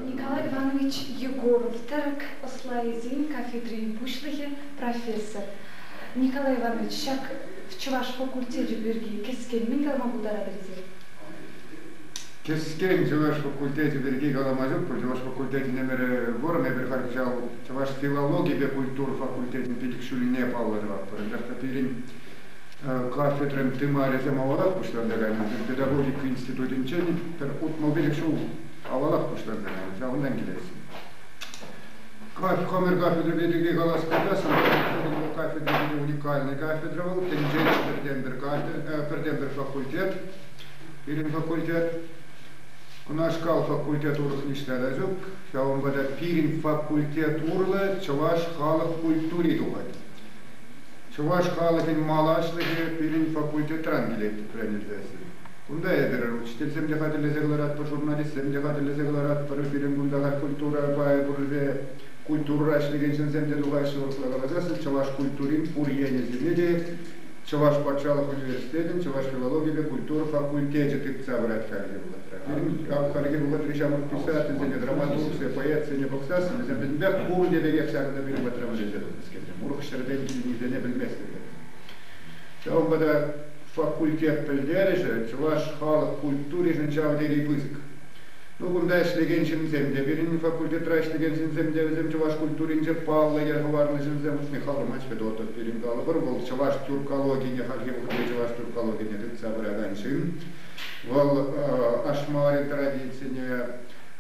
Николай Иванович Егоров тӗрӗк ӑслайӗсен кафедрин пуҫлӑхӗ, профессор. Николай Иванович, ҫак чӑваш факультечӗ пирки кӗскен мӗн калама пултаратӑр эсир? Кӗскен чӑваш факультечӗ пирки калама ҫук пуль. Чӑваш факультечӗн ӗмӗрӗ вӑрӑм. Эпир халь ҫав чӑваш филологийӗпе культура факультечӗн пилӗк ҫулне паллӑ тӑватпӑр. Анчах та пирӗн кафедрӑн тымарӗсем авалах пуҫланса кайнӑ. Педагогика институтӗнчен пӗр утмӑлпиллӗк ҫул авалах пуҫланса кайнӑ, ҫавӑнтан килесси. Комер кафедра пирки калас пулсан, кафедрӑсенче уникальный кафедра вӑл, тӗнчере пӗртен-пӗр кафедра, пӗртен-пӗр факультет. Пирӗн факультет, кунашкал факультет урӑх ниҫта та ҫук. Ҫавӑнпа та пирӗн факультет урлӑ чӑваш халӑх культури тухать. Чӑваш халӑхӗн малашлӑхӗ пирӗн факультетран килет, тренер язви. Кунта эпир учительсем те хатӗрлесе кӑларатпӑр, журналистсем те хатӗрлесе кӑларатпӑр. Пирӗн кунта халь культура пайӗ пуррипе культурӑра ӗҫлекен ҫынсем те тухаҫҫӗ. Урӑхла каласан, чӑваш культурин пур енӗсене те Чӑваш патшалӑх университетӗн чӑваш филологипе культура факультечӗ тытса пырать хальхи вӑхӑтра. Пирӗн хальхи вӑхӑтри ҫамрӑк писательсене, драматургсене, поэтсене пӑхсассӑн вӗсем вӗсемпе пурте пекех ҫакӑнта пирӗн патра вӗренсе тухаҫҫӗ. урӑх ҫӗртен килнисене пӗлместпӗр. Ҫавӑнпа та факультет пӗлтерӗшӗ чӑваш халӑх культуришӗн ҫав тери пысӑк. Ну, кунта ӗҫлекен ҫынсем те, пирӗн факультетра ӗҫлекен ҫынсем те, вӗсем чӑваш культуринче паллӑ йӗр хӑварнӑ ҫынсем хушни халӑма Федотов пирӗн калӑпӑр. Вӑл чӑваш тюркологине хальхи вӑхӑтри чӑваш тюркологине тытса пыракан ҫын. Вӑл Ашмарин традицине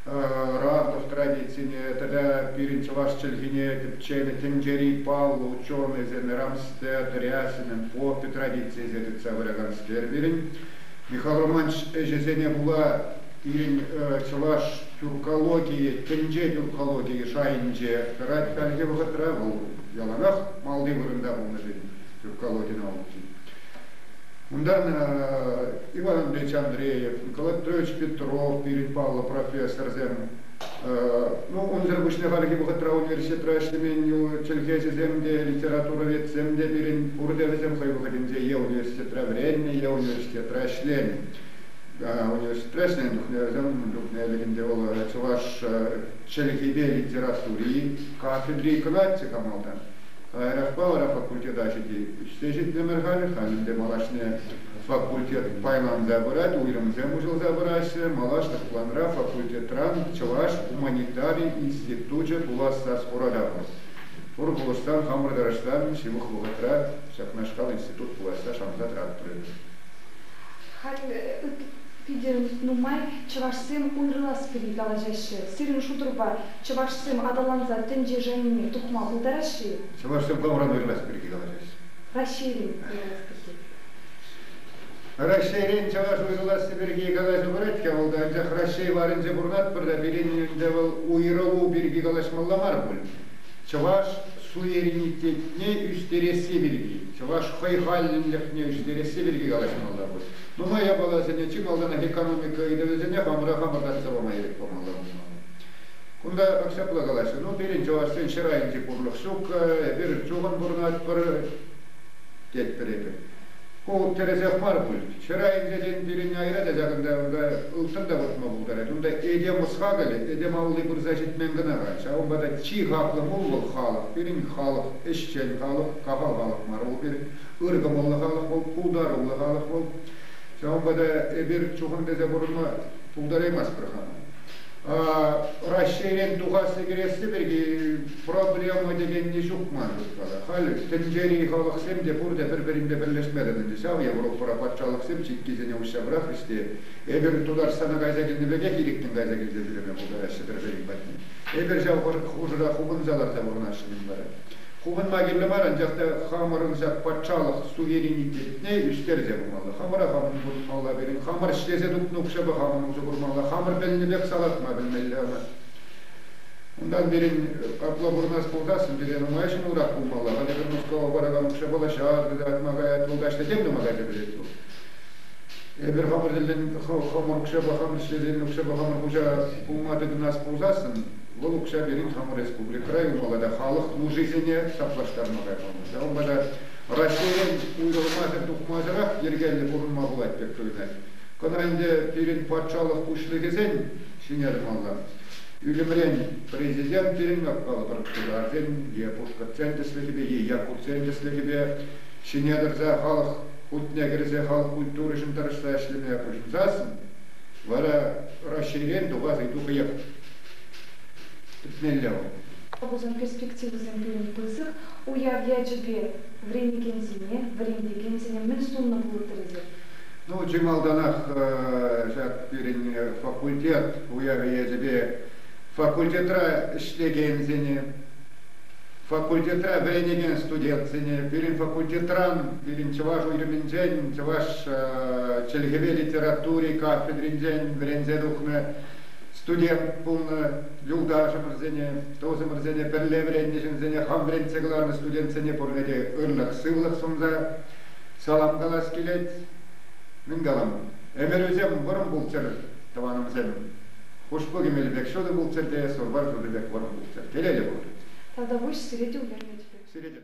Радов традицине тата пирӗн чӑваш чӗлхине тӗпченӗ тӗнчери паллӑ ученӑйсем Рамстер, Рясинӑн Поппи традицийӗсем тытса пыраканскер пирӗн. Михаил Романович ӗҫӗсене пула пирӗн чӑваш тюркологийӗ, тӗнче тюркологийӗ шайӗнче тӑрать хальхи вӑхӑтра. Вӑл яланах малти вырӑнта пулнӑ тен тюркологи наукин. Унта Иван Ильич Андреев, Николаевич Петров пирӗн паллӑ профессорсем, ну, унсӑр пуҫне хальхи вӑхӑтра университетра ӗҫлемен чӗлхеҫӗсем те, литературоведсем те пирӗн пурте вӗсем хӑй вӑхӑтӗнче е университетра вӗреннӗ, е университетра ӗҫленӗ. Университетра ӗҫленӗ чухне вӗсем чухне ӗлӗкӗнче вӑл чӑваш чӗлхипе литератури кафедри кӑна ӗҫсе хамалтан. Каярахпа вара факультета ҫити ӳссе ҫитрӗмӗр халь. Халь ӗнтӗ малашне факультет пайланса пырать, уйрӑмсем уҫӑлса пыраҫҫӗ. Малашлӑх планра факультетран чӑваш гуманитари институчӗ пулас сас хуратапӑр. Пур пулӑшсан, хамӑр тӑрӑшсан ҫывӑх вӑхӑтра ҫакнашкал институт пуласса шанса тӑратпӑр эпӗ. Халь питӗ нумай чӑвашсем уйрӑлас килни калаҫаҫҫӗ. Сирӗн шутӑрпа, Чӑвашсем аталанса тӗнчешенни тухма пултараҫҫӗ-и? Чӑвашсем камран юрлас пирки калаҫаҫҫӗ? Раҫҫейрен юрлас пирки. Раҫҫейрен чӑваш уйрӑласси пирки калаҫу пырать-ҫке, вӑл та анчах Раҫҫей варӗнче пурӑнатпӑр та пирӗн ӗнтӗ вӑл уйрӑлу пирки калаҫмалла мар пуль. Чӑваш суверенитетне ӳстересси пирки, чӑваш хӑйхаллӗнлӗхне ӳстересси пирки калаҫмалла пуль. Нумай япаласене чи малтанах экономика ыйтӑвӗсене хамӑра хамӑр татса пама ирӗк памалла пулмалла. Кунта ҫапла калаҫҫӗ, ну пирӗн чӑвашсен ҫӗр айӗнчи пурлӑх ҫук, эпир чухӑн пурӑнатпӑр, тетпӗр эпир. Ку тӗрӗсех мар пуль. Ҫӗр айӗнче, тен, пирӗн айра та ҫакӑнта унта ылтӑн та выртма пултарать. Унта этем ӑс-хакӑлӗ, этем алли пырса ҫитмен кӑна-ха. Ҫавӑнпа та чи хаклӑ пул вӑл халӑх, пирӗн халӑх, ӗҫчен халӑх, кахал халӑх мар вӑл пирӗн, ыр кӑмӑллӑ халӑх вӑл, пултаруллӑ халӑх вӑл. Ҫавӑнпа та эпир чухӑн тесе пурӑнма пултараймастпӑр хамӑн. Раҫҫейрен тухасси кӗресси пирки проблема текенни ҫук ман шутпа. Халь тӗнчери халӑхсем те пурте пӗр-пӗринпе пӗрлешме тытӑнчӗ ҫав. Европӑра патшалӑхсем чиккисене уҫса пӑрахрӗҫ те эпир Тутарстана кайса килнӗ пекех ирӗккӗн кайса килсе ҫӳреме пултараҫҫӗ пӗр-пӗрин патне. Эпир ҫав хушӑра хупӑнса ларса пурӑнаҫҫӗ-мӗн вара. Хупӑнма кирлӗ мар, анчах та хамӑрӑн ҫак патшалӑх суверенитетне ӳстерсе пымалла. Хамӑра хам усӑ курмалла, пирӗн хамӑр ӗҫлесе тупнӑ укҫапа хамӑн усӑ курмалла, хамӑр пӗлнӗпех салатма пӗлмелле ӑна. Унтан пирӗн капла пурӑнас пулсассӑн пире нумай ҫӑмӑлрах пулмалла. Хатӗр Мускава паракан укҫа пулаҫҫӗ, тытатма каять, вулкач тӗтем тума кайса кӗрет вӑл. Эпир хамӑр тӗллӗн хамӑр укҫапа, хамӑр ӗҫлесе укҫапа хамӑр хуҫа пулма тытӑнас пулсассӑн Вӑл укҫа пирӗн хамӑр республикӑра юхӑ тата халӑх нушисене саплаштарма каймалла. Ҫавӑнпа та Раҫҫейрен уйрӑлмасӑр тухмасӑрах йӗркеллӗ пурӑнма пулать пек туйӑнать. Кӑна ӗнтӗ пирӗн патшалӑх пуҫлӑхӗсен ҫине тӑмалла. Ӳлӗмрен Президент пирӗн ятпа тутарсен е пушкӑртсен тӗслӗхӗпе е якутсен тӗслӗхӗпе ҫине тӑрса халӑх хутне кӗрсе халӑх культуришӗн тӑрӑшса ӗҫлеме пуҫӑнсассӑн вара Раҫҫейрен тухас ыйту хӑех Пӗтмелле вӑл. Пулӑшусен перспективисем пысӑк, уяв ячӗпе вӗренекенсене, вӗрентекенсене мӗн суннӑ пулӑттӑр эсир? Ну, чи малтанах ҫак пирӗн факультет уявӗ ячӗпе факультетра ӗҫлекенсене, факультетра вӗренекен студентсене, пирӗн факультетран, пирӗн чӑваш уйрӑмӗнчен, чӑваш чӗлхепе литератури кафедринчен вӗренсе тухнӑ студент пулнӑ юлташӑмӑрсене, тусӑмӑрсене, пӗрле вӗреннӗ ҫынсене хам вӗрентсе кӑларнӑ студентсене пурне те ырлӑх-сывлӑх сунса салам калас килет. Мӗн калам, ӗмӗрӳсем вӑрӑм пулччӑр, тӑванӑмсем. Хушпу кӗмелӗ пек ҫутӑ пулччӑр те, сурпар шутӑ пек вӑрӑм пулччӑр, телейлӗ пулчӑр. Тата пуҫ сире тӳлемӗт пек. Сире те.